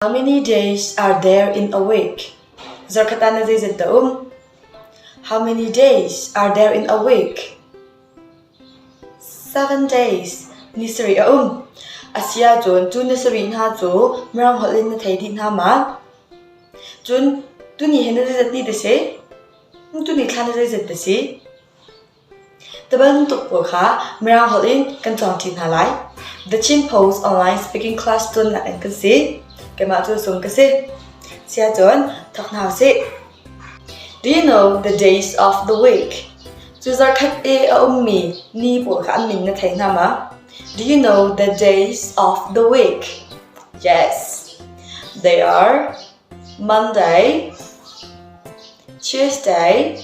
How many days are there in a week? Zarkhat ah na zeizat dah um? How many days are there in a week? Seven days ni sarih a um. A si ahcun cu ni sarih hna cu Mirang holh in na thei dih hna ma? Cun tuni hi na zeizat ni da si? Tu ni thla na zeizat da si? Ti bantuk pawl kha Mirang holh in kan cawngṭi hna lai. The Chin Post online speaking class tlunak in kan si. Keimah cu Sung ka si. Siacun thok hna usih. Do you know the days of the week? Cu zarkhat i a ummi ni pawl kha an min na thei hna ma? Do you know the days of the week? Yes. They are Monday, Tuesday,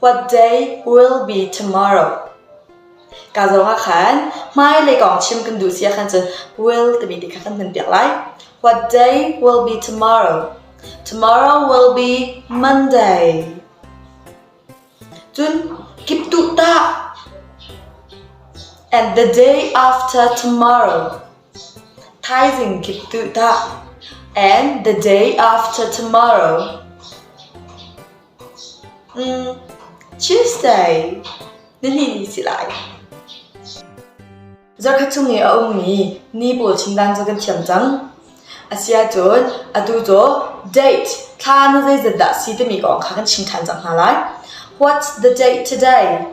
What day will be tomorrow? Ka zong ah khan hmailei kong chim kan duh si ah khan cun will timi ti kha kan hman piak lai. What day will be tomorrow? Tomorrow will be Monday. Cun kip tuh tah. And the day after tomorrow. Thaizing kik tuh tah, and the day after tomorrow. Tuesday, nihnih ni si lai. Zarkhat chung i a ummi ni pawl chindan cu kan thiam cang. Asiahcun, atu cu date, thla nu zeizat dah si timi kong kha kan chim ṭhan cang hna lai. What's the date today?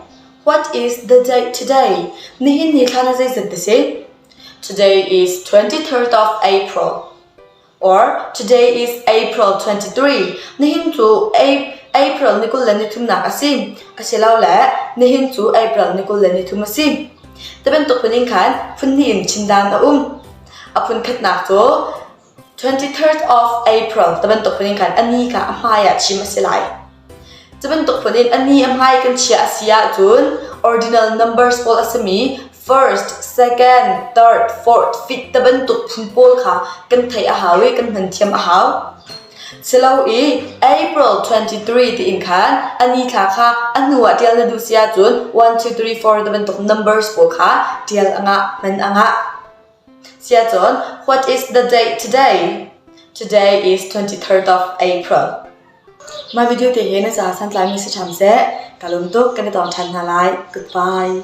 What is the date today? Nihin ni thla nu zeizat ti si? Today is twenty-third of April. Or today is April twenty-three. Nihin cu Ap- April ni kul le nithumnak a si. Asilole nihin cu April ni kul le nithum a si. Ti bantuk phun in khan phun hnih in chim dan a um. A phun khatnak cu Twenty third of April ti bantuk phun in khan a ni kha a hmai ah chim a si lai. Cu bantuk phun in a ni a hmai kan chiah a si ahcun ordinal numbers pawl a simi first, second, third, fourth, fifth ti bantuk phun pawl kha kan theih a hau i kan hman thiam a hau. Silo i April 23 tiin khan a ni thla kha a hnu ah tial na duh si ahcun 1, 2, 3, 4 ti bantuk numbers pawl kha tial a ngah, hman a ngah. Siacun what is the date today? Today is 23rd of April. Mah video te he na ca santlai mi si ṭham seh. Ka lung tuk kan i tong ṭhan hna lai. Goodbye.